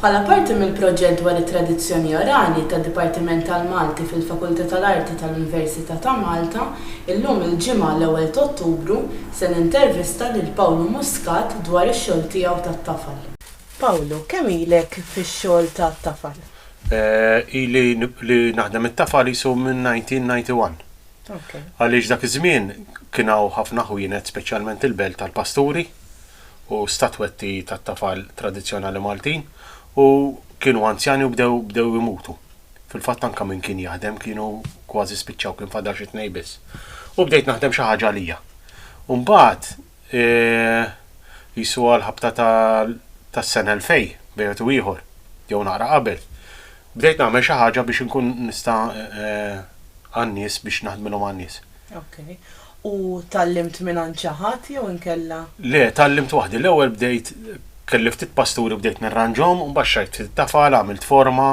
Bħala parti mill-proġett dwar it-tradizzjoni orali tad-Dipartiment tal-Malti fil-Fakultà tal-Arti tal-Università ta' Malta, illum il-Ġimgħa l-ewwel t'Ottubru se nintervista lil Pawlu Muscat dwar ix-xogħol tiegħu tat-tafal. Pawlu, kemm ilek fix-xogħol tat-tafal? Ili li naħdem it-tafa qisu minn 1991. Għaliex dak iż-żmien kien hawn ħafna ħwienet speċjalment il-belt tal-pasturi u statwetti tat-tafal tradizzjonali Maltin u kienu anzjani u bdew bdew imutu. Fil-fatt anke min kien jaħdem kienu kważi spiċċaw kien fadal xi tnejn biss. U bdejt naħdem xi ħaġa għalija. U mbagħad e qisu għall-ħabta ta' tas-sena 2000 bejn wieħed u ieħor, jew naqra qabel, bdejt nagħmel xi ħaġa biex inkun nista' għan-nies biex naħdmilhom għan-nies. Ok. U tgħallimt mingħand xi ħadd jew inkella? Le, tgħallimt waħdi. L-ewwel bdejt kelli ftit pasturi bdejt nirranġhom u mbagħad xtrajt ftit tafal, għamilt forma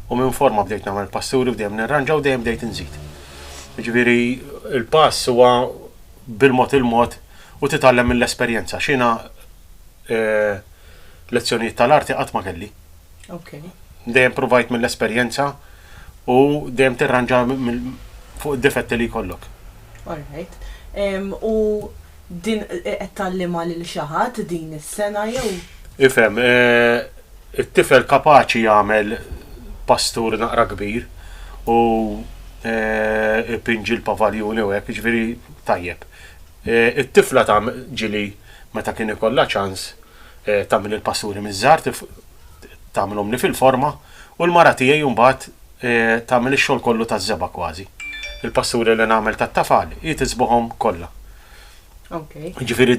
u minn forma bdejt nagħmel pasturi u dejjem nirranġa u dejjem bdejt inżid. Jiġifieri l-pass huwa bil-mod il-mod u titgħallem mill-esperjenza x'jiena lezzjonijiet tal-arti qatt ma kelli. Dejjem provajt mill-esperjenza u dejjem tirranġa fuq id-difetti li jkollok. All right. U din qed tgħallimha lil xi ħadd din is-sengħa jew? Ifhem, It-tifel kapaċi jagħmel pastur naqra kbir u jpinġi l-pavaljuni u hekk, jiġifieri tajjeb. It-tifla ta' ġili meta kien ikollha ċans tagħmel il-pasturi miż-żgħar tagħmilhomli fil-forma u l-mara tiegħi mbagħad tagħmel ix-xogħol kollu taż-żebgħa kważi. Il-pasturi li nagħmel tat-tafal hi tiżbħhom kollha. Okay. Ġifiri,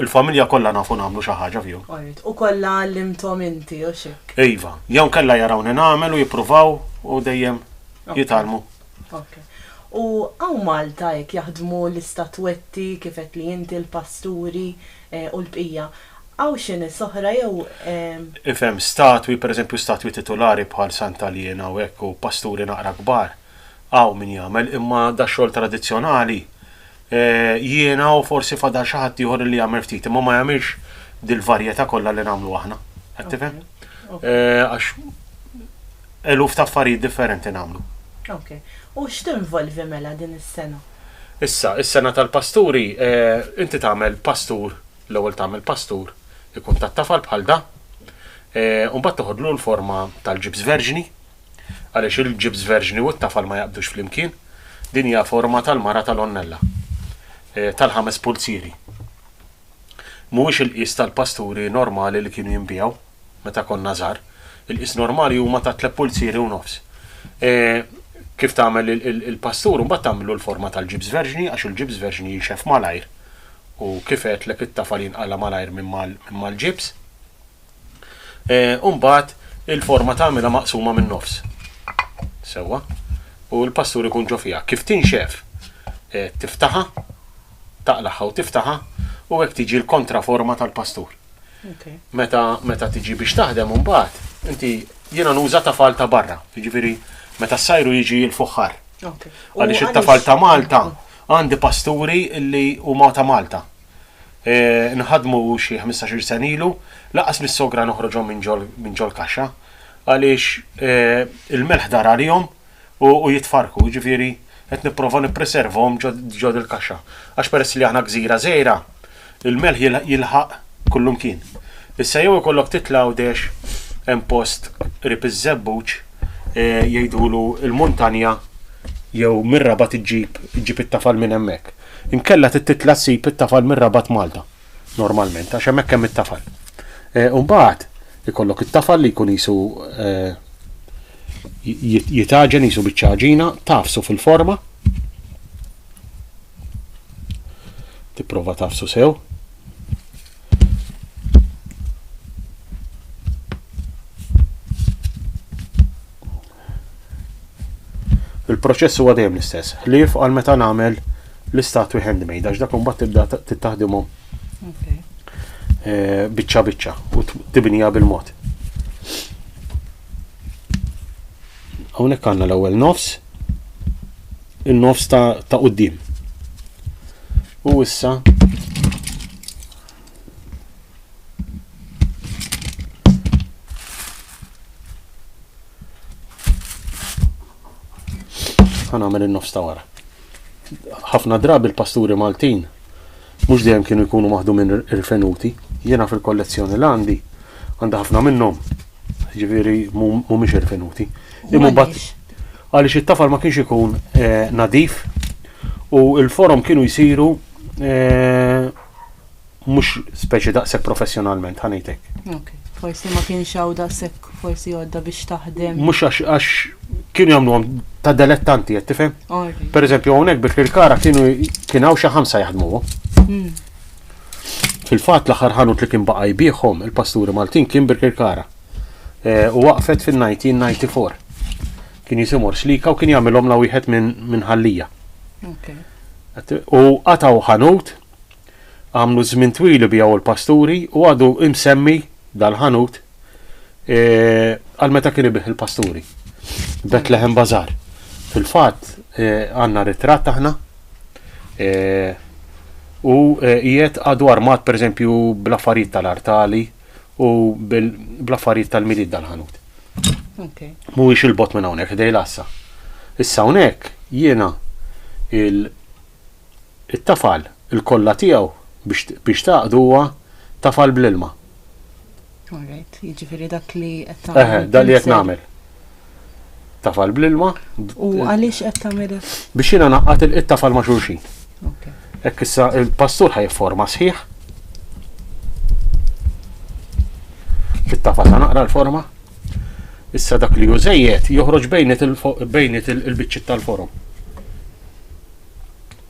il-familja kollha nafu nagħmlu xi ħaġa fihom. U kollha għallimthom inti u xek. Iva, jew kellha jarawni nagħmel u jippruvaw u dejjem jitalmu. Okay. U għaw Malta jek jaħdmu l-istatwetti kifet li inti l-pasturi eh, u l-bqija. Għaw xin soħra jew. Eh, Ifem, statwi, per eżempju, statwi titolari bħal Santa Liena u ekku, pasturi naqra kbar. Hawn min jagħmel, imma da xogħol tradizzjonali. Jiena u forsi fadal xi ħadd ieħor li jagħmel ftit, imma ma jagħmilx dil-varjetà kollha li nagħmlu aħna. Qed tifhem? Għax eluf ta' affarijiet differenti nagħmlu. Ok. U x'tinvolvi mela din is-sena? Issa, is-sena tal-pasturi, inti tagħmel pastur, l-ewwel tagħmel pastur ikun tat-tafal bħal da, u mbagħad toħodlu l-forma tal-ġibs verġni, Għaliex il-ġibs verġni u t-tafal ma jaqbdux flimkien? Din hija forma tal-mara tal-onnella, tal-ħames pulzieri. Mhuwiex il-qies tal-pasturi normali li kienu jinbiegħu meta konna żgħar. Il-qies normali huma ta' tliet pulzieri u nofs. E, kif tagħmel il-pastur, imbagħad tagħmlu l-forma tal-ġibs verġni għax il-ġibs verġni jinxef malajr. U kif għedtlek it-tafal jinqala' malajr minn mal-ġibs. Eh, u mbagħad il-forma tagħmilha maqsuma min-nofs. Sewwa. U l-pastur ikun ġo fiha. Kif tinxef eh, tiftaħa, taqlaħħa u tiftaħa u hekk tiġi l-kontraforma tal-pastur. Meta meta tiġi biex taħdem mbagħad, inti jiena nuża tafal ta' barra, jiġifieri meta s-sajru jiġi l-fuħħar. Għaliex it-tafal ta' Malta għandi pasturi li huma ta' Malta. nħaddmu xi ħmistax-il sena ilu, lanqas mis-sogra noħroġhom minn ġol-kaxxa għaliex il-melħ dar għalihom u jitfarrku, jiġifieri qed nipprova nippreservahom ġo dil-kaxxa. Għax peress li aħna gżira żgħira, il-melħ jilħaq kullumkien. Issa jew ikollok titla' Għawdex hemm post qrib iż-Żebbuġ jgħidulu l-Muntanja jew mir-Rabat iġġib iġġib it-tafal minn hemmhekk. Inkella trid titla' ssib it-tafal mir-Rabat Malta, normalment, għax hemmhekk hemm it-tafal. U mbagħad ikollok it-tafal li jkun qisu jitgħaġen qisu biċċa għaġina, tagħfsu fil-forma, tipprova tagħfsu sew. Il-proċess huwa dejjem l-istess, ħlief għal meta nagħmel l-istatwi handmade, għax dak imbagħad tibda tittaħdimhom eh, biċċa biċċa u tibnija bil-mod. Hawnhekk għandna l-ewwel nofs, in-nofs ta' qudiem. U issa ħanamel il-nofs ta' wara. ħafna drabi l-pasturi Maltin mhux dejjem kienu jkunu maħdu minn rifenuti. Jiena fil-kollezzjoni l għandi għandha ħafna minnhom. Ġifieri mhumiex irfenuti. Imma bat għaliex it-tafal ma kienx ikun eh, nadif u l-forom kienu jsiru eh, mhux speċi daqshekk professjonalment, ħa ngħid hekk. Ok, forsi ma kienx hawn daqshekk forsi għodda biex taħdem. Mhux għax għax kienu jagħmluhom ta' delettanti qed tifhem. Alright. Per eżempju hawnhekk bit il-kara kienu kien hawn xi ħamsa jaħdmuhom. Mm. Fil-fatt l-aħħar ħanut li kien baqa' jbieħhom il-pasturi Maltin kien Birkirkara. Eh, U waqfet fin-1994. Kien jisimhom Xlika u kien jagħmilhom la wieħed minn min Ħal-Lija. U qatgħu ħanut, għamlu żmien twil ibiegħu l-pasturi u għadu imsemmi dal-ħanut e, għal meta kien ibih il-pasturi. Betlehem Bazar. Fil-fatt e, għandna ritratt aħna e, u qiegħed għadu armat pereżempju bl-affarijiet tal-artali u bl-affarijiet tal-milied dal-ħanut. Mhuwiex il-bot minn hawnhekk ħdej lassa. Issa hawnhekk jiena il-tafal il-kollha tiegħu biex taqdu huwa tafal bl-ilma. Alright, jiġifieri dak li qed tagħmel. Dak li qed nagħmel. tafal bl-ilma. U għaliex qed tagħmel Biex jiena naqqat il-tafal ma' xulxin. Hekk issa il-pastur ħaj forma sħiħ. Fit-tafal ta' naqra l-forma. Issa dak li jużejjed joħroġ bejnet il-biċċiet tal-forom.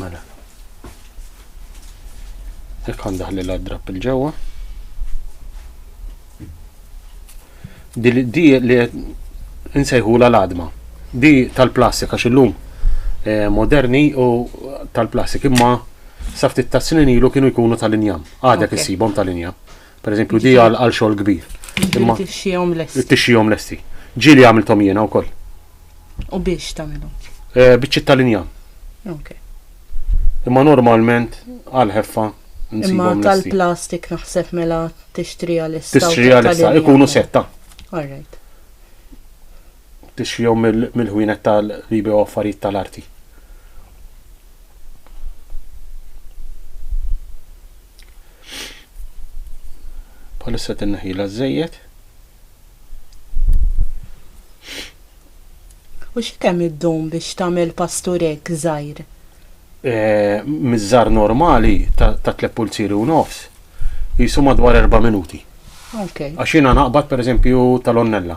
Mela. Jekk għandaħ li l-adrap il-ġewwa. Di li nsejħu la l-adma. Di tal-plastik għax illum eh, moderni u tal-plastik imma saftit ta' snin ilu kienu jkunu tal-injam. Għadek issibhom tal-injam. Per eżempju, di għal għal xogħol kbir. Imma tixxihom lesti. Tixxihom lesti. Ġieli għamilthom jiena wkoll. U biex tagħmilhom? Eh, Biċċiet tal-injam. Okay. Imma normalment għal ħeffa Imma tal-plastik naħseb mela tixtri għal issa. Tixtri għal issa, ikunu setta. All right. Tixtri mill-ħwienet tal-libi u affarijiet tal-arti. Bħalissa tinneħila żejjed. U xi kemm iddum biex tagħmel pasturek żgħir? Eh, miż-żar normali ta' tlep pulziri u nofs jisu madwar erba' minuti. Għax jiena naqbad pereżempju tal-onnella.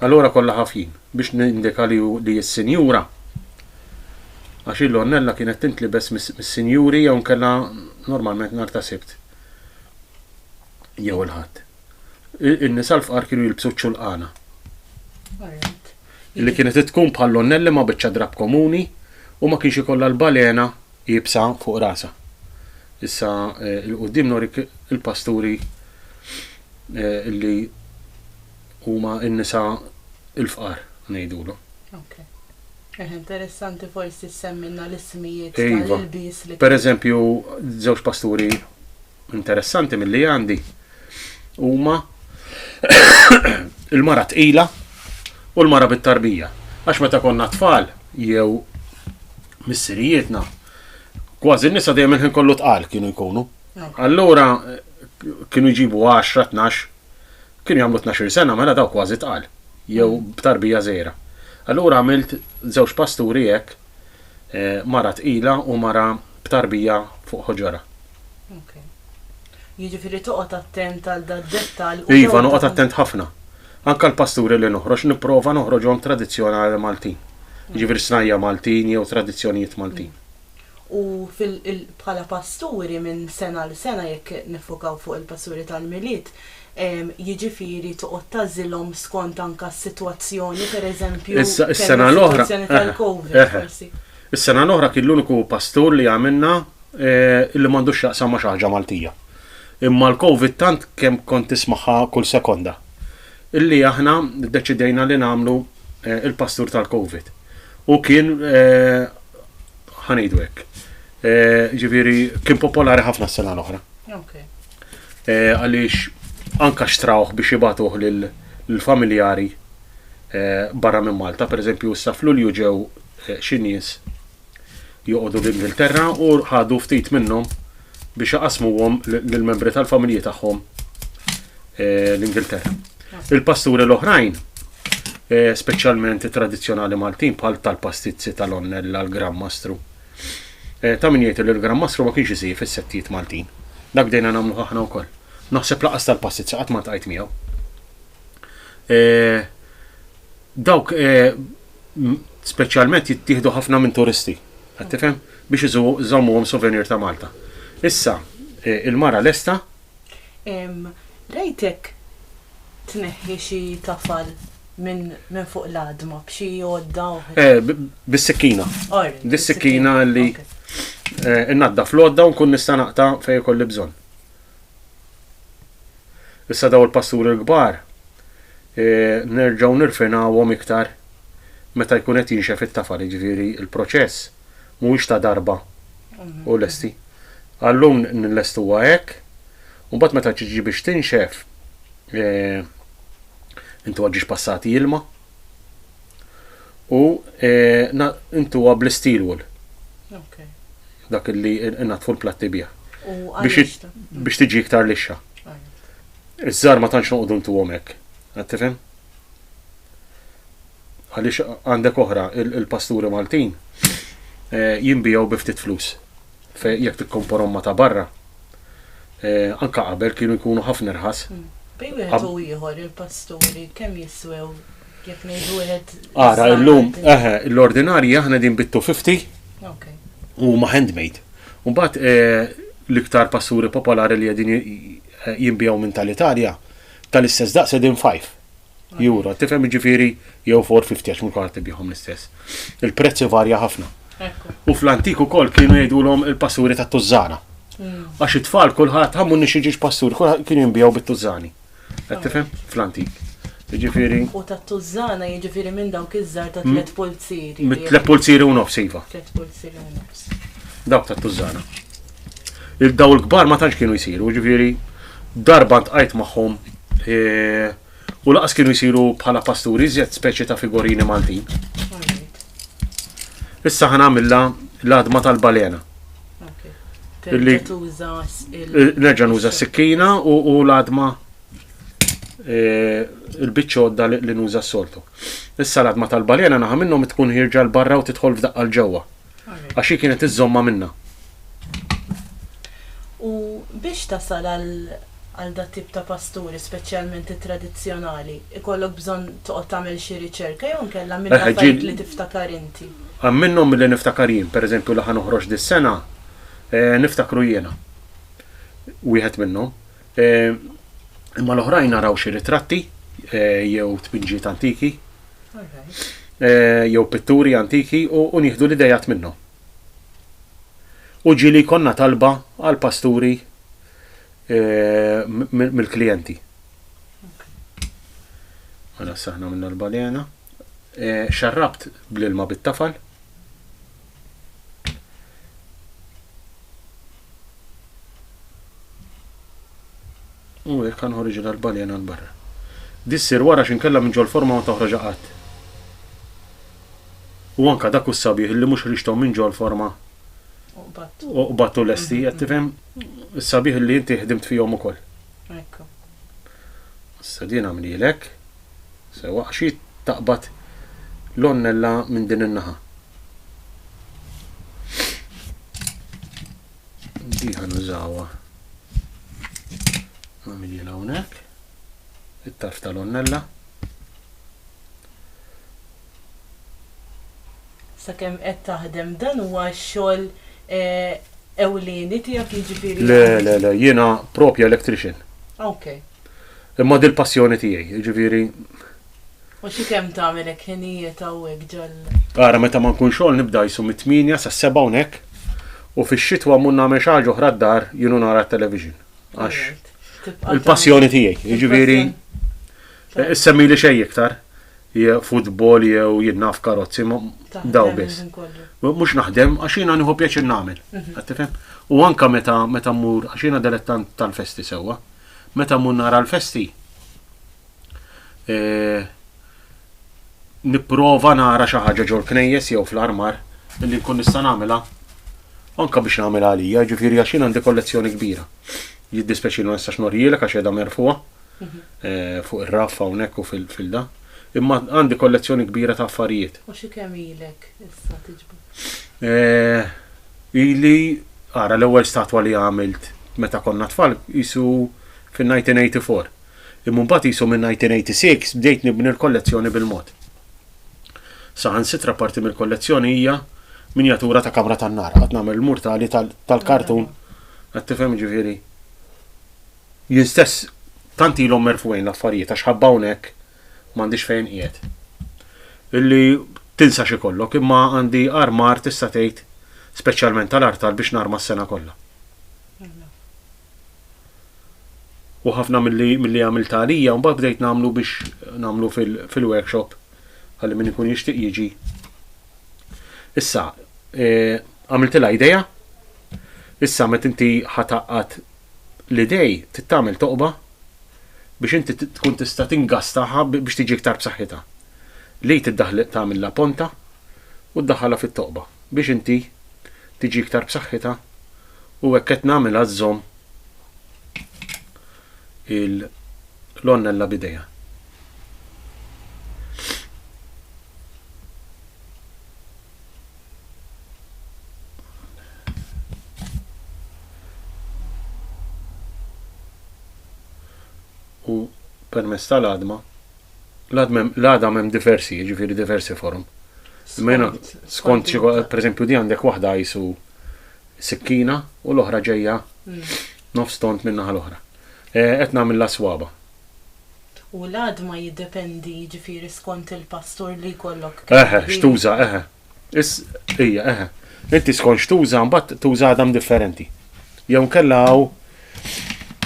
Allura kollha ħafjin, biex nindika li hi s-sinjura, għax il-lonnella kienet tintlibes mis-sinjuri jew inkella normalment nhar ta' Sibt jew il-Ħadd. In-nisa l-fqar kienu jilbsu ċ-ċulqana, li kienet tkun bħal-lonnell imma biċċa drapp komuni u ma kienx ikollha l-balena iebsa fuq rasha. Issa 'l quddiem norik il-pasturi li Huma n-nisa l-fqar ngħidulhom. Ok. Eħe, interessanti forsi ssemmilna l-ismijiet tal-ilbies li. Iva. Pereżempju, żewġ pasturi interessanti milli għandi huma il-mara tqila u l-mara bit-tarbija. Għax meta konna tfal jew missirijietna, kważi n-nisa dejjem il-ħin kollu tqal kienu jkunu. Allura kienu jġibu 10, 12 Kienu jagħmlu tnax-il sena mela dawk kważi tqal, jew b'tarbija żgħira. Allura għamilt żewġ pasturi hekk, mara tqila u mara b'tarbija fuq ħoġorha. Ok. Jiġifieri toqgħod attent għal dad-dettall u. Iva, noqgħod attent ħafna. Anke l-pasturi li noħroġ nipprova noħroġhom tradizzjonali Maltin. Jiġifieri snajja' Maltin jew tradizzjonijiet Maltin. U bħala pasturi minn sena għal sena, jekk niffokaw fuq il-pasturi tal-Milied, jiġifieri toqgħod tagħżilhom skont anke s-sitwazzjoni, pereżempju, is-sitwazzjoni tal-Covid, forsi. Is-sena l-oħra kien l-uniku pastur li għamilna li m'għandux x'jaqsam ma' xi ħaġa Maltija. Imma l-Covid tant kemm kont tismagħha kull sekonda illi aħna ddeċidejna li nagħmlu il-pastur tal-Covid. U kien ħa ngħidu hekk. Eh, ġifieri kien popolari ħafna s-sena l-oħra. Eh, għaliex anka xtrawh biex jibatuh lill-familjari eh, barra minn Malta, pereżempju issa f'Lulju ġew xi nies joqogħdu l-Ingilterra u ħadu ftit minnhom biex jaqasmuhom lill-membri tal-familji tagħhom l-Ingilterra. Il-pasturi l-oħrajn, eh, speċjalment tradizzjonali Maltin bħal tal-pastizzi tal-onnella l-Gran Mastru. Eh, ta' min jgħid li l-Gran Mastru ma kienx isir fis-settijiet Maltin. Dak dejna nagħmlu aħna wkoll. Naħseb laqas tal-pastizzi qatt ma tqajt miegħu. Eh, dawk speċjalment jittieħdu ħafna minn turisti. Qed tifhem? Biex iżommuhom souvenir ta' Malta. Issa, il-mara lesta Rajtek tneħħi xi tafal minn fuq l-għadma b'xi għodda oħra? Eh, bis-sikkina. Bis-sikkina li eh, naddaf l-għodda u nkun nista' naqta' fejn ikolli bżonn. Issa daw il-pasturi l-kbar eh, nerġgħu nirfinawhom iktar meta jkun qed jinxef it-tafal, jiġifieri il-proċess mhuwiex ta' darba u lesti. Għallum nillestuha hekk, u mbagħad meta tiġi biex tinxef, eh, intuha ġiex passati ilma u eh, intuha bl-steel wool. Okay. Dak li natfu l-platti bih. Biex tiġi iktar lixxa. Iż-żar ma tantx noqogħdu ntuhom hekk. Għad tifhem? għaliex għandek oħra il-pasturi Maltin eh, jinbijgħu bi ftit flus jekk tikkomporhom ma ta' barra. Eh, anka qabel kienu jkunu ħafna irħas. Hmm. Bej wieħed u ieħor il-pasturi kemm jiswew jekk ngħidu wieħed. Ara illum eħe l-ordinarji aħna din bittu 50 u ma handmade. Mbagħad eh, l-iktar pasturi popolari li qegħdin jinbijaw minn tal-Italja tal-istess daqs edin 5. Jura, tifhem jiġifieri jew 450 għax mhux kulħadd ibihom l-istess. Il-prezz ivarja ħafna. U fl-antik ukoll kienu jgħidulhom il-passuri ta' tużżana. Mm. Għax it-tfal kulħadd ħammu nix jiġix passuri, kulħadd kienu jinbijaw bit-tużżani. Qed tifhem? Fl-antik. Jiġifieri. U ta' tużżana jiġifieri minn dawk iż-żar ta' tliet pulzieri. Mit tliet pulzieri u nofs iva. Tliet pulzieri u nofs. Dawk ta' tużżana. il-dawl kbar ma tantx kienu jsiru, ġifieri darba ntqajt magħhom e, u laqas kienu jsiru bħala pasturi iżjed speċi ta' figorini Maltin. Issa ħana għamilla l-adma tal-balena. Illi nerġa' nuża s-sikkina u l-adma e, il-biċċodda li nuża s-soltu. Issa l-adma tal-balena naħa minnhom tkun ħirġa l-barra u tidħol f'daqqa l-ġewwa. Għax hi kienet iżżommha minna. U biex tasal għal dat-tip ta' pasturi, speċjalment it-tradizzjonali, ikollok bżonn toqgħod tagħmel xi riċerka jew inkella mill-affarijiet li tiftakar inti? Hemm minnhom milli niftakar jien. Pereżempju li ħa noħroġ dis-sena, niftakru jiena wieħed minnhom. Eh, imma l-oħrajn naraw xi ritratti eh, jew tpinġiet antiki eh, jew pitturi antiki u nieħdu l-idejat minnhom. U ġili konna talba għal pasturi mill-klijenti. Għana s-saħna minna l-balena. Xarrabt bl-ilma bit-tafal. U hekk kan ħorġu l-arbaljena l-barra. Dissir wara x'inkella minn ġol forma ma toħroġ qatt. U anka dak u s-sabiħ li mhux ħriġthom minn ġol forma u qbattu lesti, qed tifhem is-sabiħ li inti ħdimt fihom ukoll. Ekku. Issa din għamlilek, sewa xi taqbad l-onnella minn din in-naħa. Di ħanużawa. Namili l-għonek. Il-tarf tal-onnella. Sakemm qed taħdem dan huwa xogħol eh, ewlieni tiegħek jiġifieri. Le, le, le, jiena propja electrician. Ok. Imma dil-passjoni tiegħi, jiġifieri U xi kemm tagħmel hekk ħinijiet hawnhekk ġol. Ara meta ma nkun xogħol nibda jsu mit-tmienja sas-seba' hawnhekk u fix-xitwa mmur nagħmel xi ħaġa oħra d-dar jien u nara t-television. Għax il-passjoni tiegħi, jiġifieri issemmi li xejn iktar futbol jew jien naf karozzi daw biss. Mhux naħdem għax jiena nieħu pjaċir nagħmel. Mhm. U anka meta meta mmur għax jiena delettant tal-festi sewwa, meta mmur nara l-festi eh, nipprova nara xi ħaġa ġol knejjes jew fl-armar li nkun nista' nagħmilha anke biex nagħmel għalija, ġifieri għax jien għandi kollezzjoni kbira. Jiddispeċi ma nistax norjielek għax qiegħda merfuha mhm. eh, fuq ir-raffa hawnhekk u fil-filda. Imma għandi kollezzjoni kbira ta' affarijiet. U xi kemm ilek issa tiġbu? Eh, ili ara l-ewwel statwa li għamilt meta konna tfal jisu fin-1984. Imma mbagħad qisu min-1986 bdejt nibni l-kollezzjoni bil-mod. Saħansitra parti mill-kollezzjoni hija minjatura ta' kamra tan-nar. Qatt nagħmel il-mur tali tal-kartun. Qed tifhem jiġifieri? Jien stess tant ilhom merfugħin l-affarijiet għax ħabba hawnhekk m'għandix fejn qiegħed. Illi tinsa x'ikollok imma għandi armar tista' tgħid speċjalment tal-artal biex narma s-sena kollha. U ħafna milli milli għamilta għalija mbagħad bdejt nagħmlu biex nagħmlu fil-workshop fil ħalli min ikun jixtieq jiġi. Issa, e, għamiltilha e, idea, issa met inti ħataqqat l-idej tittamil toqba biex inti tkun tista' tingastaha biex tiġi iktar b'saħħitha. Li tiddaħli tagħmilha ponta u ddaħħalha fit-toqba biex inti tiġi iktar b'saħħitha u hekk qed nagħmilha żżomm il-lonnella b'idejha. u permezz tal-għadma L-għada hemm diversi, jiġifieri diversi forum. Mena, skont xi per eżempju di għandek waħda jisu sikkina u l-oħra ġejja mm. nofs tont minna l-oħra. E, qed nagħmel la swaba. U l-għad ma jiddependi ġifieri skont il-pastur li jkollok. Eħe, xtuża, eħe. Is, ija, eħe. Inti skont x'tuża mbagħad tuża għadam differenti. Jew nkella hawn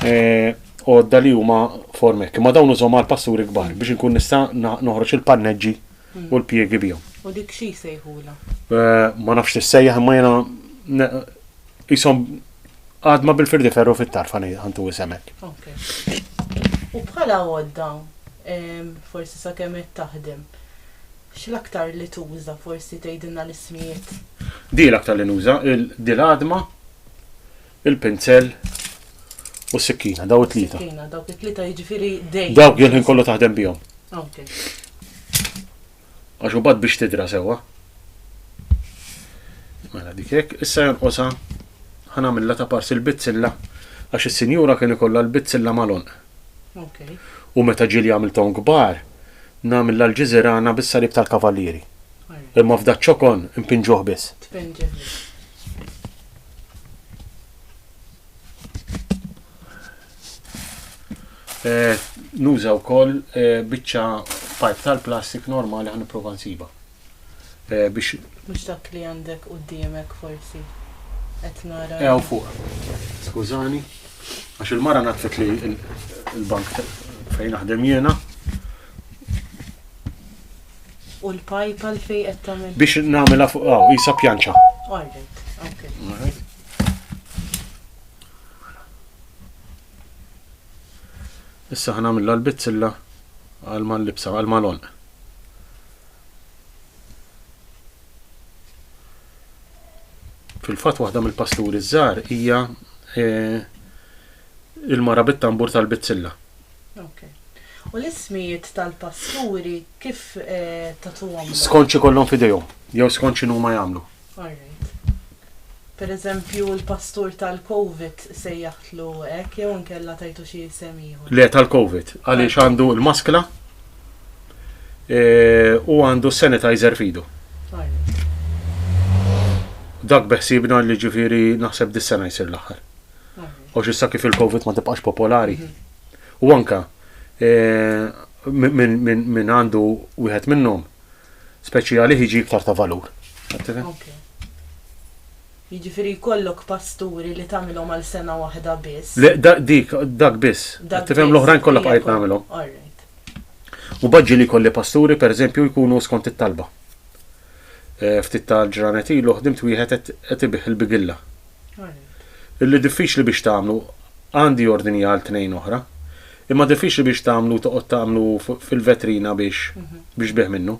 eh, għodda li huma formek. Ma dawn użhom għal pasturi kbar biex inkun nista' noħroġ il-panneġġi hmm. u l-pjegi bihom. U dik xi jsejħula? Eh, ma nafx tissejjaħ imma jiena jisom għadma bil-firdi ferru fit-tarfa għantu jisemek. U bħala għodda, forsi sa' kemm taħdem, X'l-aktar li tuża forsi tgħidilna l-ismijiet? Di l-aktar li nuża, di l-għadma, il-pinzell u s-sikkina, daw it-tlieta. Sikkina, dawk it-tlieta jiġifieri dejjem. Dawk jien ħin kollu taħdem bihom. Ok. Għax ubad biex tidra sewwa. Mela dik hekk, issa jonqosha ħanamilla ta' parsi l-bizzilla għax is-sinjura kien ikollha l-bizzilla malon. U meta ġieli għamilthom kbar, ngħamil l-Alġiżirana bis-salib tal-Kavalieri. Imma f'da ċ-ċokon npinġuh biss. Nuża wkoll biċċa pipe tal-plastik normali ħa nipprova nsibha. biex Mhux dak li għandek quddiemek forsi. Qed nara. Ew fuq. Skużani. Għax il-mara natfet li l-bank fejn naħdem jiena. U l-pajp għal fej qed tagħmel. Biex nagħmilha fuq hawn, isa pjanċa. Alright, okay. Issa ħanamilla l-bizzilla għal mal-libsa, għal mal-onq. Fil-fatt waħda mill-pasturi żgħar hija eh, il-mara bit-tambur tal-bizzilla. Okay. U l-ismijiet tal-pasturi kif eh, tatuhom? Skonċi kollhom fidejhom, jew skonċi numa jagħmlu. All right. Per eżempju l-pastur tal-Covid sejjaħtlu hekk jew inkella tajtu xi isem ieħor? Le tal-Covid, għaliex għandu l-maskla e, u għandu sanitizer fidu. Dak beħsibna li ġifiri naħseb dis-sena jsir l-aħħar. U xissa kif il-Covid ma tibqax popolari. Mhm. U anka e, minn għandu wieħed minnhom speċjali jiġi iktar ta' valur. Jiġifieri jkollok pasturi li tagħmilhom għal sena waħda biss. Le, dik, dak biss. Dak tifhem l-oħrajn kollha bqajt nagħmilhom. U baġġi li jkolli pasturi, pereżempju, jkunu skont it-talba. Eh, ftit tal-ġranet ilu ħdimt wieħed qed ibih il-bigilla. Illi diffiċli biex tagħmlu għandi ordini għal tnejn oħra, Imma diffiċli biex tagħmlu toqgħod tagħmlu fil-vetrina biex biex bih minnu.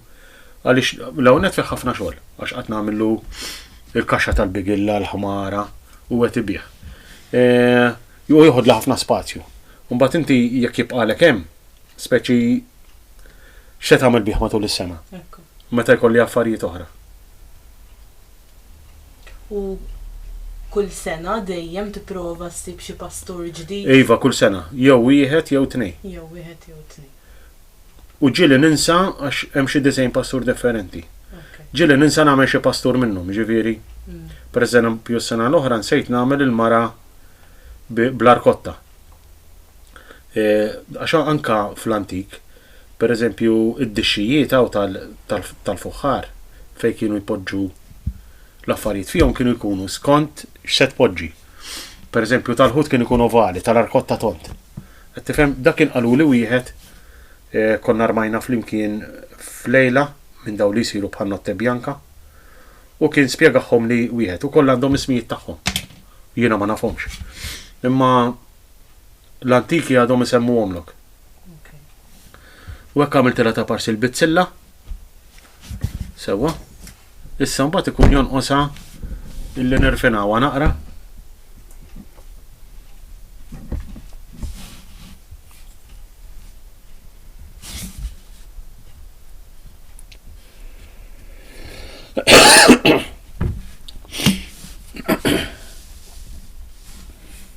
Għaliex l-ewwel nett fih ħafna xogħol għax qatt nagħmillu il-kaxxa tal-bigilla, l-ħmara u qed ibih. E, u joħodla ħafna spazju. Mbagħad inti jekk jibqalek hemm, speċi x'se tagħmel bih matul is-sena. Meta jkolli affarijiet oħra. U kull sena dejjem tipprova ssib xi pastur ġdid? Iva, kull sena. Jew wieħed jew tnejn. Jew wieħed jew tnejn. U ġieli ninsa għax hemm xi disgħin pastur differenti. Ġieli ninsa nagħmel xi pastur minnhom, jiġifieri, pereżempju s-sena l-oħra nsejt nagħmel il-mara bl-arkotta. Għax anke fl-antik Per eżempju, id-dixxijiet hawn tal-fuħħar fejn kienu jpoġġu l-affarijiet fihom kienu jkunu skont x'se tpoġġi. Per eżempju, tal-ħut kien ikun ovali, tal-arkot ta' tont. Qed tifhem, dak kien qaluli wieħed eh, konna rmajna flimkien f'lejla minn dawn li jsiru bħal notte bjanka u kien spjegahom li wieħed u koll għandhom ismijiet tagħhom. Jiena ma nafhomx. Imma l-antiki għadhom isemmuhomlok. U hekk għamiltilha ta' parsi l-bizzilla. Sewwa. Issa mbagħad ikun jonqosha illi nirfinawha naqra.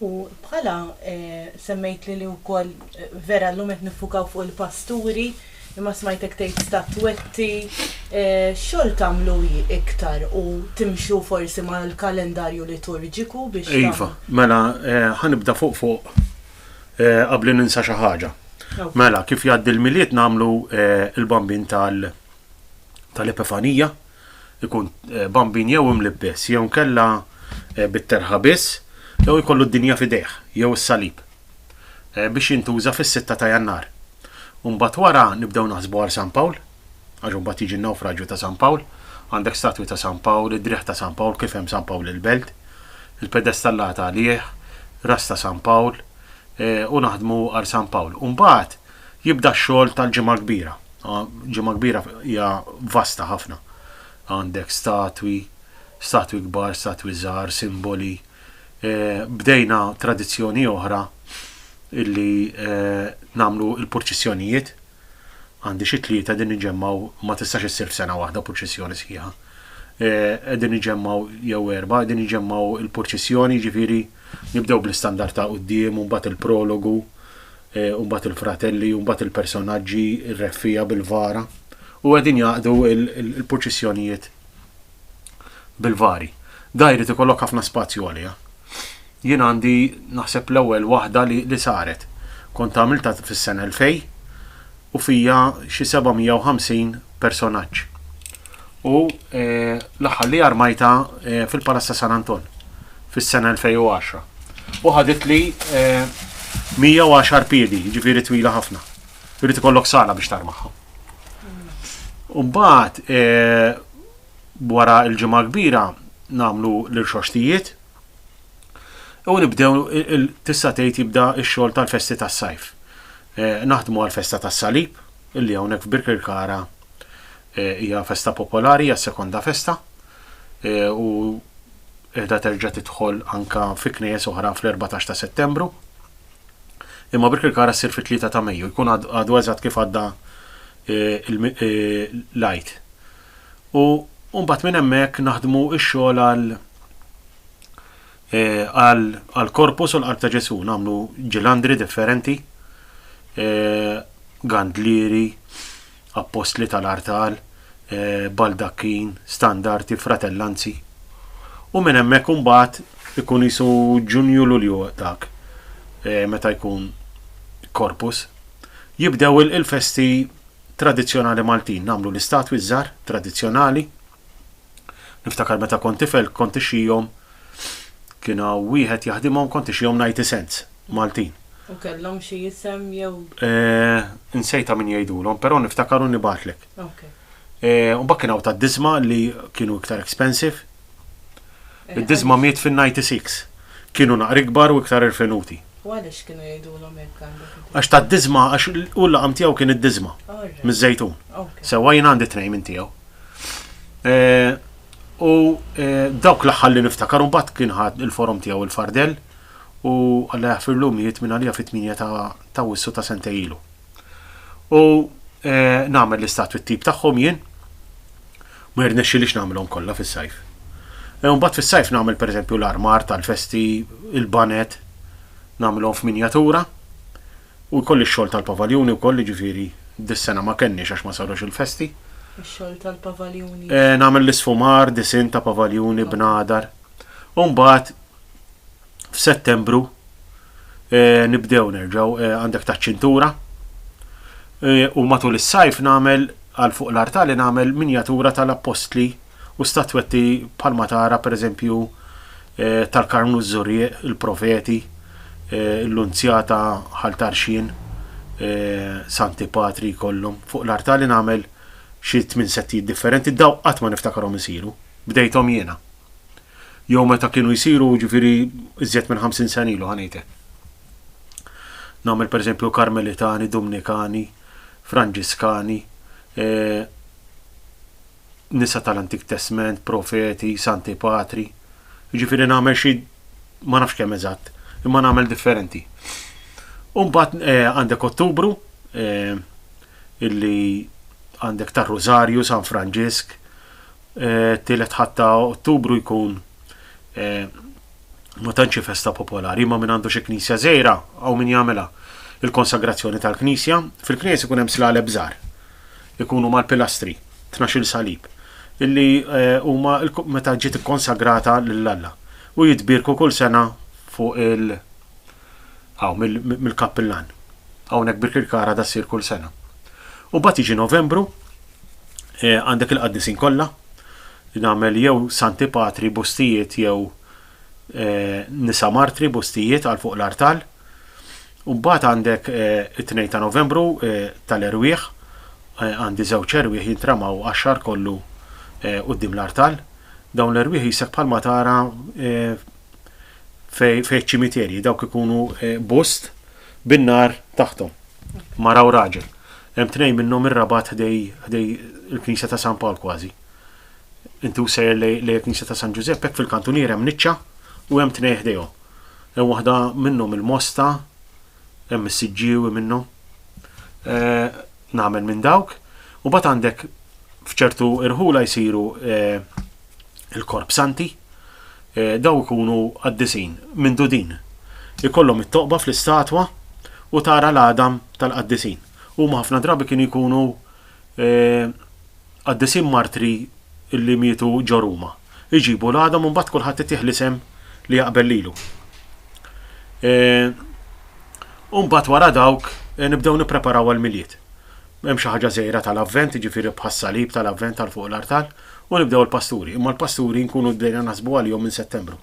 U bħala semmejtli li wkoll vera llum qed niffukaw fuq il-pasturi, imma smajtek tgħid statwetti, x'xogħol tagħmlu iktar u timxu forsi mal-kalendarju liturġiku biex tagħmlu? Iva, mela ħa nibda fuq fuq qabli ninsa xi ħaġa. Mela kif jgħaddi l-Milied nagħmlu l-Bambin tal-Epifanija, ikun bambin jew imlibbes jew inkella bit-terħa biss jew ikollu d-dinja f'idejh jew is-salib biex jintuża fis-sitta ta' Jannar. U mbagħad wara nibdew naħsbu għal San Pawl, għax imbagħad jiġi n-nawfraġju ta' San Pawl, għandek statwi ta' San Pawl, id-driegħ ta' San Pawl kif hemm San Pawl il-Belt, il-pedestallata għalih, ras ta' San Pawl, u naħdmu għal San Pawl. U mbagħad jibda x-xogħol tal-Ġimgħa l-Kbira. Ġimgħa Kbira hija vasta ħafna. Għandek statwi, statwi kbar, statwi żgħar, simboli. Bdejna tradizzjoni oħra illi nagħmlu l-purċissjonijiet. Għandi xi tlieta qegħdin niġġemmgħu, ma tistax issir f'sena waħda purċissjoni sħiħa. Qegħdin niġġemmgħu, jew erbgħa, qegħdin niġġemmgħu l-purċissjoni, jiġifieri nibdew bl-istandard ta' quddiem u mbagħad il-prologu u mbagħad il-fratelli u mbagħad il-personaġġi r-reffija bil-vara u qegħdin jaqdu l-purċissjonijiet bil-vari. Da jrid ikollok ħafna spazju għaliha. Jien għandi naħseb l-ewwel waħda li, li saret. Kont għamilta fis-sena l-fej u fija xi 750 personaġġ. u l-aħħar li armajta fil-Palazz ta' San Anton fis-sena 2010. U ħaditli 110 piedi, ġifieri twila ħafna. Irid ikollok sala biex tarmaħħa. Umbat, eh, wara il-ġimgħa kbira nagħmlu l-irxoxtijiet u nibdew tista' tgħid jibda x-xogħol tal-festi tas-sajf. Eh, naħdmu għal-festa tas-salib illi hawnhekk f'Birkirkara Hija festa popolari, hija s-sekonda festa u qiegħda terġa' tidħol anke fi knejjes oħra fl-erbatax ta' Settembru. Imma Birkirkara ssir fit-tlieta ta' Mejju, jkun għadu eżatt kif għadda l-Għid. U mbagħad minn hemmhekk naħdmu x-xogħol għal għall-Korpus u l-Qalb ta' Ġesù, nagħmlu ġilandri differenti, gandlieri, Appostli tal-artal, baldakkin, standarti, fratellanzi. U minn hemmhekk imbagħad ikun qisu Ġunju Lulju dak meta jkun Corpus. Jibdew il-festi tradizzjonali Maltin, nagħmlu l-istatwi ż-żgħar tradizzjonali. Niftakar meta kont tifel kont ixxihom kien hawn wieħed jaħdimhom kont ixxihom Nighty Cents, Maltin. U kellhom xi isem jew? Eh, insejtha min jgħidulhom, però niftakar u nibgħatlek. Okej. Eh, u mbagħad kien hawn tad-diżma li kienu iktar expensive. Eh, Id-diżma miet fin-96. Kienu naqra ikbar u iktar irfinuti. U għaliex kienu jgħidulhom hekk għandek? Għax tad-diżma, għax u l-laqam tiegħu kien id-diżma. Miż-żejtun. Sewwa jien għandi tnejn minn tiegħu. U dawk l-aħħar li niftakar u mbagħad kien ħadd il-forom tiegħu il-fardell u Alla jaħfirlu mijiet minn għalija fit-8 ta' wissu ta' sentej ilu. U eh, nagħmel l-istatwi t-tip tagħhom jien ma jirnexxilix nagħmilhom kollha fis-sajf. Eh, u mbagħad fis-sajf nagħmel pereżempju l-armar tal-festi, il-banet, nagħmilhom f'minjatura. U jkolli x-xogħol tal-pavaljuni wkoll, jiġifieri dis-sena ma kellniex għax ma sarux il-festi. Ix-xogħol tal-pavaljuni. Eh, nagħmel l-isfumar, disinn ta' pavaljuni, bnadar. U mbagħad f'Settembru eh, nibdew nerġgħu eh, għandek taċ-ċintura. Eh, u matul is-sajf nagħmel għal fuq l-artali nagħmel minjatura tal-appostli U statwetti bħalma tara pereżempju tal-Karmnu ż-Żurrieq, il-Profeti, l-Lunzjata Ħal Tarxien, Santi Patri jkollhom. Fuq l-artali nagħmel xi tmien settijiet differenti, dawn qatt ma niftakarhom isiru, bdejthom jiena. Jew meta kienu jsiru, jiġifieri iżjed minn ħamsin sena ilu, ħa ngħid hekk. Nagħmel pereżempju Karmelitani, Dumnikani, Franġiskani, nisa tal-Antik Testment, profeti, santi patri. Jiġifieri nagħmel xi ma nafx kemm eżatt, imma nagħmel differenti. U mbagħad eh, għandek Ottubru eh, illi għandek tar Rosario, San Franġisk, eh, tielet ħatta Ottubru jkun ma tantx festa popolari, ma minn għandu xi knisja żejra għaw min jagħmilha il-konsagrazzjoni tal-knisja, fil-knisja ikun hemm slaleb żgħar. ikunu mal-pilastri, tnax-il salib, illi huma meta ġiet ikkonsagrata lil Alla, u jitbierku kull sena fuq il hawn mill-kappillan. Hawnhekk Birkirkara da ssir kull sena. U bat jiġi Novembru, eh, għandek il-qaddisin kollha, nagħmel jew Santi Patri, bustijiet jew nisa martri bustijiet għal fuq l-artal. U mbagħad għandek it-2 ta' Novembru tal-erwieħ għandi żewġ erwieħ jintramaw għax-xahar kollu quddiem l-artal. Dawn l-erwieħ jisek bħalma tara fej ċimiterji dawk ikunu bust bin-nar taħtom. Mara u raġel. Hemm tnejn minnhom ir-Rabat ħdej il-Knisja ta' San Pawl kważi. Intu sejjer lejn il-Knisja ta' San Ġużepp, hekk fil-kantunier hemm niċċa u hemm tnej ħdejhom. Hemm waħda minnhom il-mosta, hemm is-siġġiewi minnhom. Eh, nagħmel minn dawk, u bat għandek f'ċertu irħula jsiru eh, il-korp santi, eh, daw ikunu qaddisin minn dudin. Ikollhom it-toqba fl-istatwa u tara l-għadam tal-qaddisin. Huma ħafna drabi kienu jkunu Qaddisin martri li mietu ġo Ruma. Iġibu l-għadam u mbagħad kulħadd itih l-isem li jaqbel lilu. U mbagħad wara dawk nibdew nippreparaw għall-Milied. Hemm xi ħaġa żgħira tal-Avvent, jiġifieri bħas-salib tal-Avvent għal fuq l-artal, u nibdew il-pasturi. Imma l-pasturi nkunu bdejna naħsbu għalihom minn Settembru.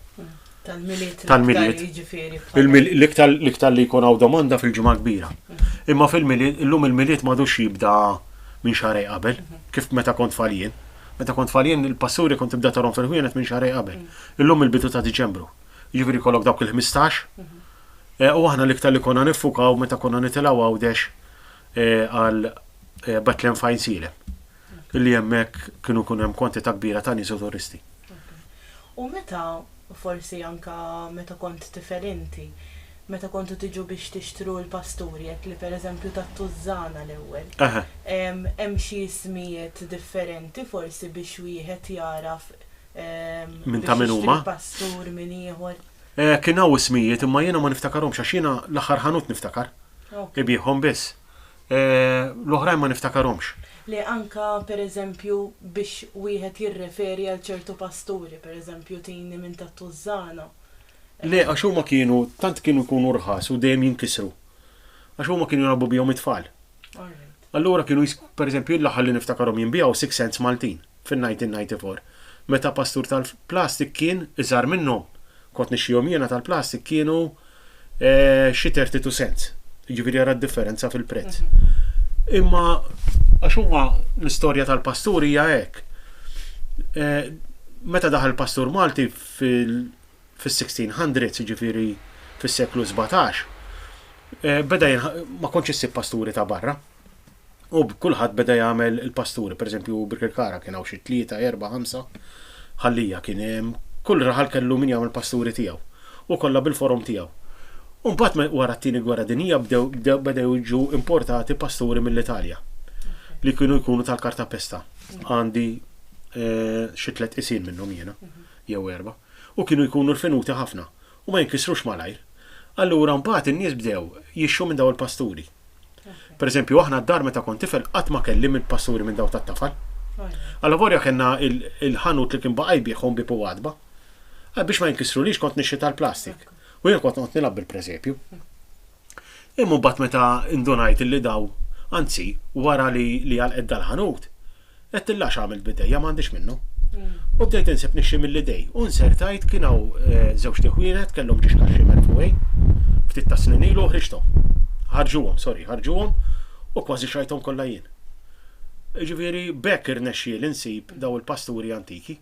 Tal-miliet. Tal-miliet. L-iktar li jkun hawn domanda fil-ġimgħa kbira. Imma fil-miliet, illum il-miliet m'għadux jibda minn xarej qabel, kif meta kont faljen. Meta kont faljen il-passuri kont tibda tarhom fil-ħwienet minn xarej qabel. Illum il-bidu ta' Diċembru. Jiġifieri kollok dawk il-15. Eh, u aħna l-iktar li konna nifukaw meta konna nitilgħu għawdex eh, għal eh, Betlehem Fine Silem. li hemmhekk kienu jkun hemm kwantità kbira ta' nies u turisti. U meta, forsi anke meta kont tifel inti, meta kontu tiġu biex tixtru l-pasturi hekk li pereżempju tat-tużżana l-ewwel, hemm xi ismijiet differenti forsi biex wieħed jagħraf min ta' min huma? pastur minn ieħor. Kien hawn ismijiet imma jiena ma niftakarhomx għax jiena l-aħħar ħanut niftakar. Ibigħhom biss. E, l-oħrajn ma niftakarhomx. Le, anke, per eżempju, biex wieħed jirreferi għal ċertu pasturi, per eżempju, Tini minn tat-Tużżana. Le, għax huma kienu, tant kienu jkunu rħas u dejjem jinkisru. Għax huma kienu jilgħabu bihom it-tfal. All right. Allura kienu jis, per eżempju, l-aħħar li niftakarhom jien biha hu Six Sense Maltin. fin-1994. Meta pastur tal-plastik kien iżgħar minnhom. Kont nixtrihom jiena tal-plastik kienu xi 32 cents. Jiġifieri ara d-differenza fil-prezz. Imma għax huma l-istorja tal-pastur hija hekk. Meta daħal pastur Malti fil-1600s, jiġifieri fis-seklu sbatax, beda ma kontx issib pasturi ta' barra. U kulħadd beda jagħmel il-pasturi, pereżempju Birkirkara kien hawn xi tlieta, erba', ħamsa, Ħallija kien hemm, kull raħal kellu min jagħmel pasturi tiegħu u kollha bil-forom tiegħu. U mbagħad wara t-tieni gwerra dinjija bdew bdew jiġu importati pasturi mill-Italja li kienu jkunu tal-kartapesta. Għandi eh, xi tliet isin minnhom jiena jew erba' u kienu jkunu l-finuti ħafna u ma jinkisrux malajr. Allura mbagħad in-nies bdew jixtru minn dawn il-pasturi. Pereżempju aħna d-dar meta kont tifel qatt ma kelli minn pasturi minn dawn tat-tafal. Allavolja kellna il-ħanut li kien baqa' jbiegħhom bieb u għatba. Biex ma jinkisrulix kont nixtri tal-plastik u jien kont noqgħod nilgħab bil-preżepju. Imma mbagħad meta ndunajt illi daw, anzi, wara li li għalqet dal-ħanut, għedt illa x'għamilt b'idejja m'għandix minnu. U bdejt insib nixxi mill-idej. U nsertajt kien hawn eh, żewġt iħwienet kellhom ġiex kaxxi merfugħin ftit ta' snin ilu ħriġthom. Ħarġuhom, sorry, ħarġuhom u kważi xajthom kollha jien. Ġifieri bekk irnexxieli nsib daw il-pasturi antiki.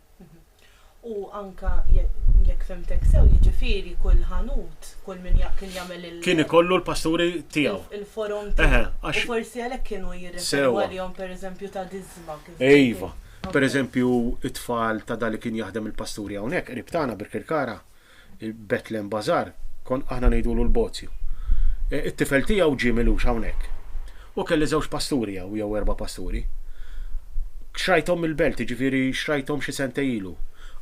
U anke jekk fhimtek sew, jiġifieri kull ħanut, kull min kien jagħmel il-. Kien ikollu l-pasturi tiegħu. Il-forom tiegħu. U forsi għalhekk kienu jirreferu għalihom pereżempju ta' diżma. Iva. Pereżempju, it-tfal ta' dan li kien jaħdem il-pasturi hawnhekk qrib tagħna Birkirkara, Il-Bethlehem Bazaar, kont aħna ngħidulu l-Bozju. It-tifel tiegħu ġie milux hawnhekk. U kelli żewġ pasturi hawn, jew erba' pasturi. Xrajthom mill-belt, jiġifieri xrajthom xi sentej ilu.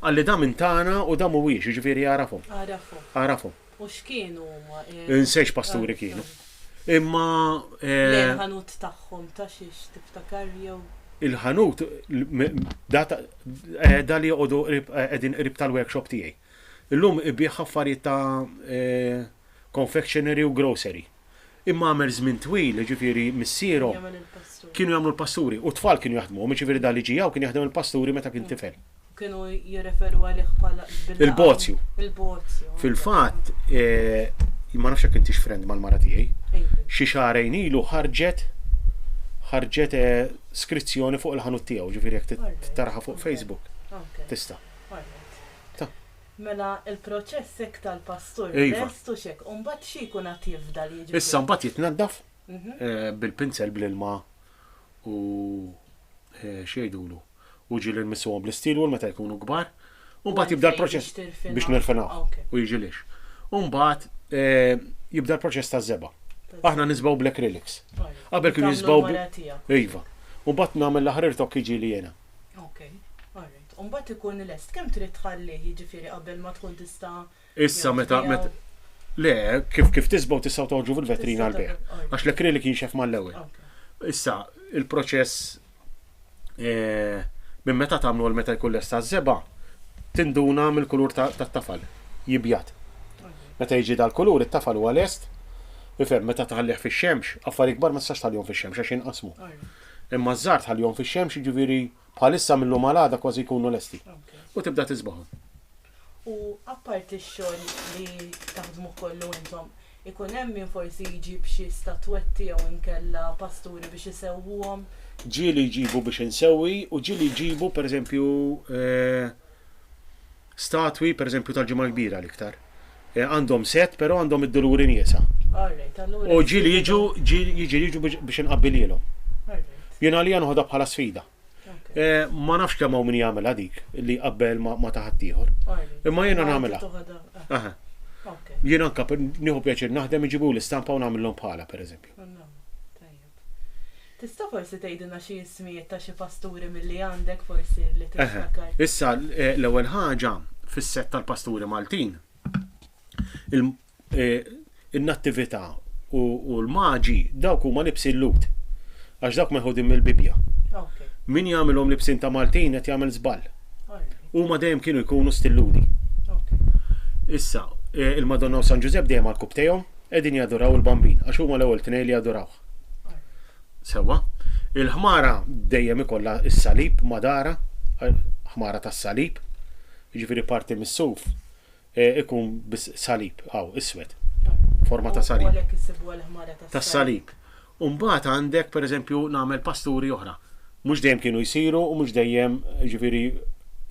Qalli da minn tagħna u da mhuwiex, jiġifieri jagħrafhom. Għarafhom. Għarafhom. U x'kienu huma? Insejx pasturi kienu. Imma. Eh, il-ħanut tagħhom ta' xiex tiftakar jew. Il-ħanut, eh, da li joqogħdu qegħdin eh, qrib tal-workshop tiegħi. Illum ibih affarijiet ta' confectionery u grocery. Imma għamel żmien twil, ġifiri missierhom. Kienu jagħmlu l-pasturi u tfal kienu jaħdmu, ġifiri da li ġijaw kien jaħdem il-pasturi meta kien tifel. kienu jirreferu għalih bħala il-bozju. Il-bozju. Fil-fatt, eh, ma nafx jekk intix friend mal-mara tiegħi. Xi xahrejn ilu ħarġet ħarġet eh, skrizzjoni fuq il-ħanut tiegħu, ġifieri jekk taraħa fuq Facebook. Tista'. Mela il-proċess hekk tal-pastur iva. restu xek, u mbagħad xi jkun qed jifdal jiġi. Issa mbagħad jitnaddaf mhm. eh, bil-pinsel bl-ilma u xejdulu. u ġieli nmissuhom bl-isteel wool meta jkunu kbar, u mbagħad jibda l-proċess biex nirfinaw u jiġi lix. U mbagħad jibda l-proċess taż-żebgħa. Aħna nisbgħu bl-acrylics. Qabel kienu jisbgħu Iva. U mbagħad nagħmel l-aħħar irtokk jiġieli jiena. Okay. All right. U mbagħad ikun lest. Kemm trid tħallih jiġifieri qabel ma tkun tista' Issa meta Le, kif kif tisbgħu tistgħu toħġu fil-vetrina l-bejħ. Għax l-acrylic jinxef mal-ewwel. Issa, il-proċess eh, minn meta tagħmlu għal meta jkun lesta żeba, tinduna mill-kulur tat-tafal, jibjat. Meta jiġi dal-kulur, it-tafal huwa lest, ifhem meta taħallih fix-xemx, affari kbar ma tistax tħallihom fix-xemx għax jinqasmu. Imma ż-żgħar tħallihom fix-xemx, jiġifieri bħalissa mill-lum għal kważi jkunu lesti. U tibda tiżbahom. U apparti x-xogħol li taħdmuh kollu intom, ikun hemm min forsi jġib xi statwetti jew inkella pasturi biex isewwuhom? Ġieli jġibu biex insewwi u ġieli jġibu pereżempju statwi pereżempju tal-Ġimgħa l-Kbira l-iktar. Għandhom sett però għandhom id-duluri niesa. U ġieli jiġu jiġi jiġu biex inqabbilhielhom. Jien għalija noħodha bħala sfida. Eh, ma nafx kemm hawn min jagħmilha dik li qabel ma taħat ieħor. Imma jiena nagħmilha. Eh. Jien anka nieħu pjaċir naħdem iġibu l-istampa u nagħmilhom bħala pereżempju. Tista' forsi tgħidilna xi ismijiet ta' xi pasturi milli għandek forsi li tiftakar. Issa eh, l-ewwel ħaġa fis-set tal-pasturi Maltin. E, in-nattività u, u l-maġi dawk huma libsin lut. Għax dawk meħudin mill-Bibja. Okay. Min jagħmilhom libsin ta' Maltin qed jagħmel żball. Huma dejjem kienu jkunu stilludi. Okay. Issa, e, il-Madonna u San Ġużepp dejjem għal-kub tejhom qegħdin jadoraw il-bambin għax huma l-ewwel tnejn li jadorawh. Sewa, il-ħmara dejjem ikollha s-salib madara, ħmara tas-salib, jiġifieri parti mis-suf eh, ikun bis salib, għaw, iswed, forma ta' salib. Għalek jisibu għal-ħmara ta' salib. Umbat għandek, per eżempju, namel pasturi oħra. Mux dejjem kienu jisiru u mux dejjem ġifiri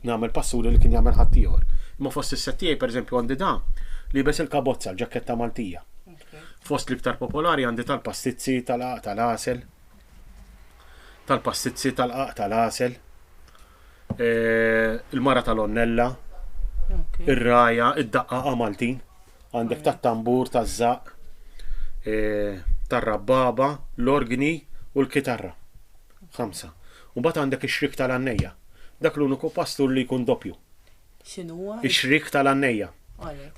namel pasturi li kien jagħmel ħaddieħor. Ma fost is-settijaj, per eżempju, għandi da li bes il-kabozza, l-ġaketta Maltija. Fost l-iktar popolari għandi tal-pastizzi tal-aq tal-asel, tal-pastizzi tal-aq tal-asel, il-mara tal-onnella, ir-raja, id-daqqaqa Maltin, għandek tat-tambur, taż-żaq, e, tar-rabbaba, l-organi u l-kitarra. Ħamsa. Mbagħad għandek ix-xrik tal-għannejja. Dak l-uniku pastur li jkun doppju. X'inhuwa? Ix-xrik tal-għannejja.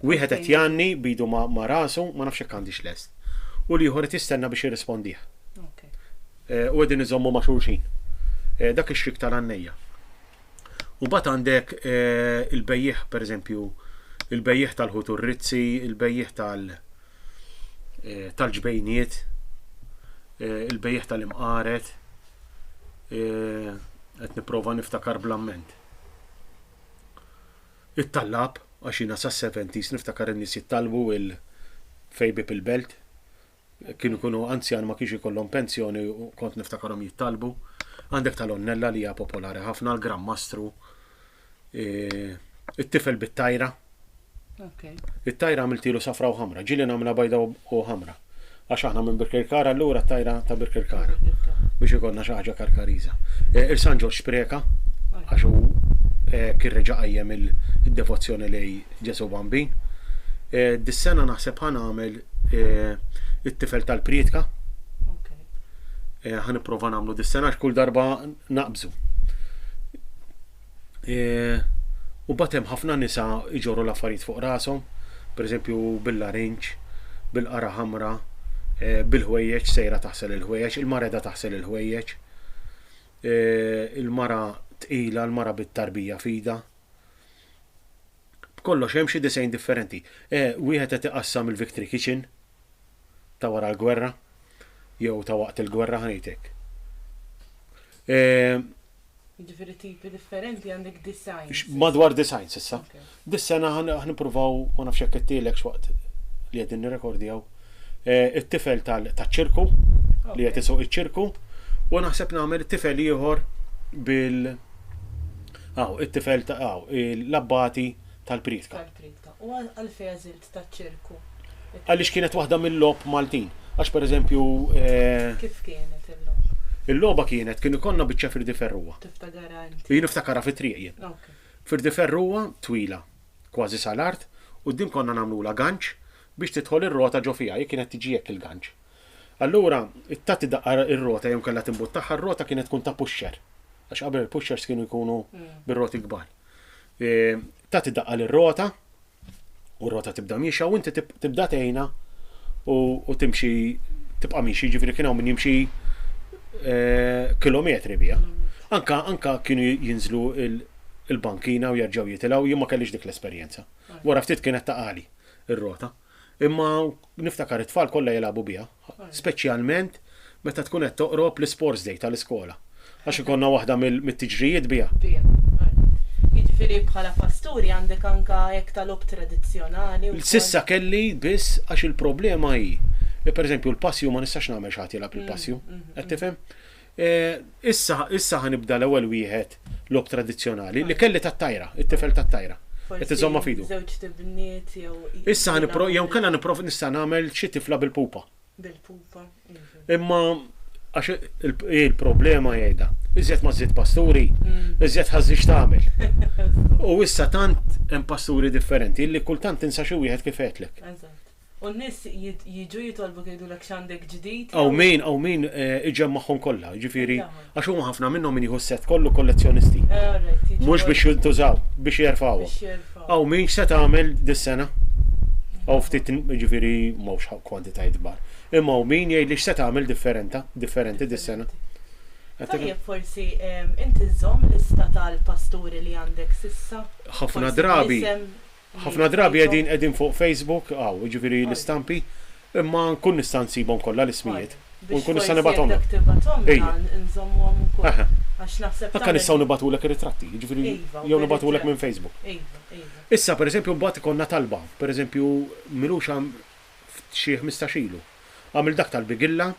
Wieħed qed jgħanni b'idu ma' rasu, ma nafx jekk għandix lest. U l-ieħor qed jistenna biex jirrispondih. Eh, u qegħdin iżommu ma' xulxin. Eh, dak ix-xrik tal-għannejja. U bat għandek eh, il-bejjiħ, per eżempju, il-bejjiħ tal-ħut u rizzi il-bejjiħ tal-ġbejniet, il-bejjiħ tal-imqaret, qed nipprova niftakar blamment. It-tallab, għax jiena sas-seventies niftakar in-nies jittallbu il fejbib il-belt. Kienu jkunu anzjan ma kienx ikollhom pensjoni u kont niftakarhom jittallbu. Għandek tal-onnella li hija popolari ħafna, l-Gran Mastru, e, it-tifel bit-tajra. It-tajr għamiltielu safra u ħamra, ġieli nagħmilha bajda u ħamra. Għax aħna minn Birkirkara allura t-tajra ta' Birkirkara biex ikollna xi ħaġa Karkariża. Eh, Il-San Ġorġ Spreka għax hu eh, kien reġa' qajjem id-devozzjoni lej Ġesu Bambin. Eh, dis-sena naħseb ħa nagħmel it-tifel tal-prietka. Ħa nipprova nagħmlu dis-sena għax kull darba naqbżu. U mbagħad hemm ħafna nisa jġorru l-affarijiet fuq rashom, pereżempju bil-larinġ, bil-qara ħamra, eh, bil-ħwejjeġ sejra taħsel il-ħwejjeġ, il-mareda taħsel il-ħwejjeġ, eh, il-mara tqila, il-mara bit-tarbija fida. B'kollox hemm xi disejn differenti. Eh, wieħed qed iqassam il-Victory Kitchen ta' wara l-gwerra jew ta' waqt il-gwerra ħanejtek. Jiġifieri tipi differenti għandek designs. X- Madwar design s'issa. Ok. Dis-sena ħan ħan nippruvaw, ma nafx jekk qedtilek x'waqt li qegħdin nirrekordjaw, eh, it-tifel tal- taċ-ċirku, li qed Ok. isuq iċ-ċirku, u naħseb nagħmel it-tifel ieħor bil Aw, it-tifel ta' aw, il- l-abbati tal-prietka. Tal-pritka. U għal- għalfejn għażilt taċ-ċirku. Għaliex kienet waħda mil-logħob Maltin. Għax pereżempju. Kif kienet il-logħba? Il-logħba kienet kien ikollna biċċa firdi ferruha. Tiftakarha inti? Jien niftakarha fit-triq jien. Firdi ferruha twila, kważi sal-art, quddiem konna nagħmlulha ganċ biex tidħol ir-rota ġo fiha, hi kienet tiġi hekk il-ganċ. Allura, tagħti daqqa r-rota jew inkella timbuttaha r-rota kienet tkun ta' pusher. Għax qabel il-pushers kienu jkunu bir-roti kbar. Tagħti daqqa lir-rota u r-rota tibda miexja u inti tibda tgħinha u timxi tibqa' miexi, ġifieri kien hawn min jimxi eh, kilometri biha. Anka anka kienu jinżlu il-bankina u jerġgħu jitilgħu jien ma kellix dik l-esperjenza. Wara ftit kienet taqali ir-rota. Imma niftakar it-tfal kollha jilagħbu biha, speċjalment meta tkun qed toqrob l-isports day tal-iskola. Għax ikollna waħda mit-tiġrijiet biha. Biha, għalhekk. Jiġifieri bħala pasturi għandek anke hekk ta' logħob tradizzjonali wkoll? S'issa kelli biss għax il-problema hi li pereżempju l-passju ma nistax nagħmel xi ħadd jilgħab il-passju. Qed tifhem? Issa, issa ħa nibda l-ewwel wieħed logħob tradizzjonali, li kelli tat-tajra, it-tifel tat-tajra. Qed iżommha f'idu. Forsi żewġt ibniet jew. Issa ħa nipprova, jew inkella nipprova nista' nagħmel xi tifla bil-pupa. Bil-pupa, iva. Imma għax hi l-problema jgħidha, iżjed ma żżid pasturi, iżjed ħażix tagħmel. U issa tant hemm pasturi differenti li kultant tinsa xi wieħed kif għedtlek. Eżatt. U n-nies jiġu jitolbuk jgħidulek x'għandek ġdid? Hawn min, hawn min iġemmagħhom kollha, jiġifieri għax huma ħafna minnhom min jieħu s-sett kollu kollezzjonisti. Mhux biex jintużaw, biex jerfgħuhom. Hawn min x'se tagħmel dis-sena? Hawn ftit jiġifieri m'hawnx kwantitajiet kbar. Imma hawn min jgħidli x'se tagħmel differenta, differenti dis-sena. Tajjeb forsi inti żżomm lista tal-pasturi li għandek s'issa? Ħafna drabi, Ħafna drabi qegħdin qegħdin fuq Facebook, hawn, jiġifieri l-istampi, imma nkun nista' nsibhom kollha l-ismijiet u nkun nista' nibgħathomlek. Ejja. Eħe. Anke nistgħu nibgħatulek ir-ritratti, jiġifieri jew nibgħatulek minn Facebook. Issa, per eżempju, mbagħad ikollna talba, per eżempju, Milux għam xi ħmistax ilu. Għamilt dak tal-bigilla,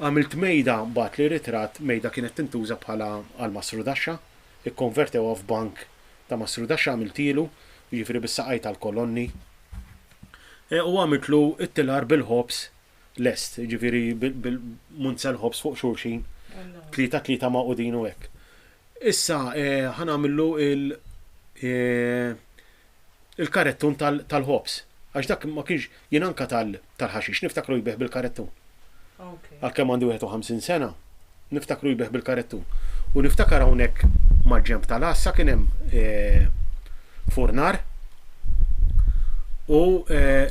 għamilt mejda, bagħatli ritratt, mejda kienet tintuża bħala għal masrudaxxa, ikkonvertewha f'bank Ta' Masruda x'għamiltilu, jiġifieri bis-saqajt tal-kolonni? U għamiltlu t-tilar bil-ħobż lest, jiġifieri bil-munzel ħobż fuq xulxin, tlieta tlieta magħqudin u hekk. Issa ħa nagħmillu il-karettun tal-ħobż, għax dak ma kienx Jien anke tal tal-ħaxix niftakru jbigħ bil-karettun. Għalkemm għandi 51 sena, niftakru jbigħ bil-karettun. U niftakar hawnhekk mal-ġenb tal-għassa kien hemm furnar u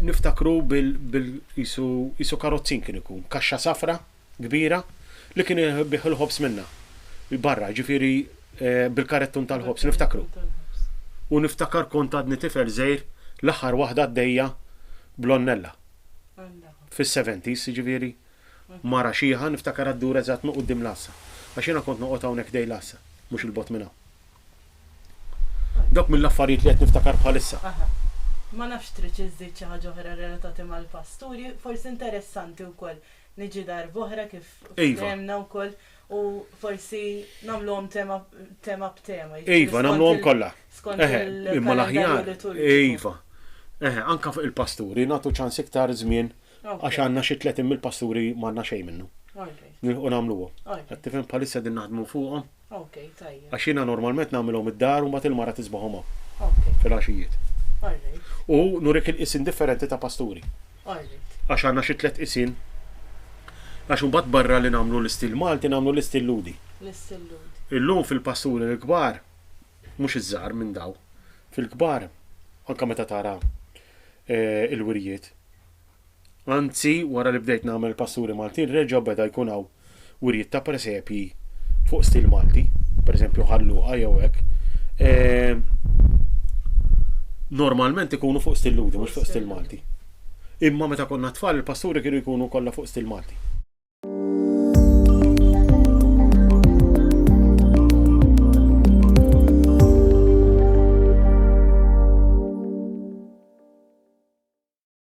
niftakru bil bil qisu qisu karozzin kien ikun, kaxxa safra, kbira li kien ibiegħ il-ħobż minnha, barra, jiġifieri bil-karettun tal-ħobż, niftakru. U niftakar kont għadni tifel żgħir l-aħħar waħda għaddejja bl-onnella. Fis-seventies, jiġifieri mara xiħa niftakarha ddur eżatt minn quddiem l-għassa. Għax jiena kont noqgħod hawnhekk ħdejn l-għassa, mhux 'il bogħod minn hawn. Dawk mill-affarijiet li qed niftakar bħalissa. Aha. Ma nafx tridx iżżid xi ħaġa oħra relatati mal-pasturi, forsi interessanti wkoll niġi darb'oħra kif fehemna wkoll u forsi nagħmluhom tema tema b'tema. Iva, nagħmluhom kollha. Skont il-kalendarju liturġiku. Iva. Eħe, anke fuq il-pasturi nagħtu ċans iktar żmien għax għandna xi tletin mill-pasturi m'għandna xejn minnu. Nilħqu nagħmluhom. Qed tifhem bħalissa din naħdmu fuqhom. Ok, tajjeb. Għax jiena normalment nagħmilhom id-dar u mbagħad il-mara tisbaħhom hawn. Ok. Fil-għaxijiet. Alright. U nurik il-qisien differenti ta' pasturi. Alright. Għax għandna xi tliet qisien. Għax imbagħad barra li nagħmlu l-istil Malti nagħmlu l-istil Lhudi. L-istil Lhudi. Illum fil-pasturi l-kbar, mhux iż-żgħar minn daw, fil-kbar anke meta tara il-wirjiet, Anzi, wara li bdejt nagħmel il-pasturi Maltin reġa' beda jkun hawn wirjiet ta' presepji fuq stil Malti, pereżempju Ħal Luqa jew hekk. Ehm, normalment ikunu fuq stil Lhudi, mhux fuq stil Malti. Imma meta konna tfal il-pasturi kienu jkunu kollha fuq stil Malti.